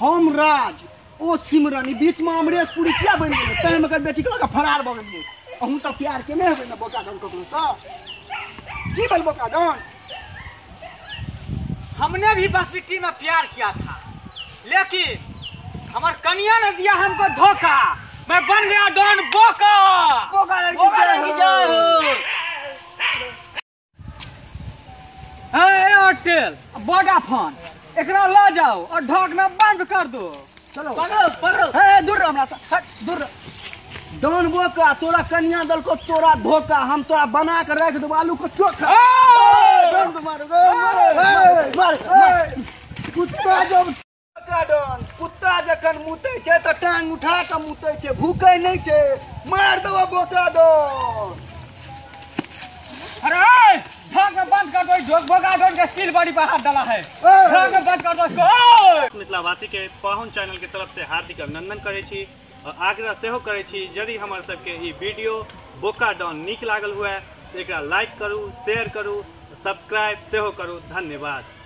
हम राज ओ सिमरन ई बीचमे अमरेश पुरी किया बनि गेलै तैं हम एकर बेटीके लऽ कऽ फरार भऽ गेलियै अहूँ तऽ प्यार केने हेबै ने बोका डन ककरोसँ की भेल बोका डन हमने भी बस मिट्टी में प्यार किया था लेकिन हमार कनिया ने दिया हमको धोखा मैं बन गया डॉन बोका बोका लड़की जय हो। हाँ ए होटल बड़ा फोन एकरा ला जाओ और ढोकना बंद कर दो चलो पकड़ो पकड़ो हे दूर रहो हमरा से हट, दूर रहो। डॉन बोका तोरा कन्या दल को तोरा धोखा हम तोरा बना के रख देबो आलू को चोखा ए! डॉन को मारो, ए, मारो, ए, मारो, मारो। कुत्ता जब गार्डन कुत्ता जखन मुतै छै तऽ टांग उठा कऽ मुतै छै भूकै नहि छै मार देबो बोका डन अरे ढाक में बंद कर दो इस ढोक भोगा डोन का स्टील बॉडी पर हाथ डाला है ढाक में बंद कर दो इसको ओए! मिथिलावासी के पाहुन चैनल के तरफ से हार्दिक अभिनंदन करै छी और आग्रह सेहो करै छी यदि हमर सबके ई वीडियो बोका डॉन नीक लागल हुए तऽ एकरा लाइक करू शेयर करू सब्सक्राइब सेहो करू धन्यवाद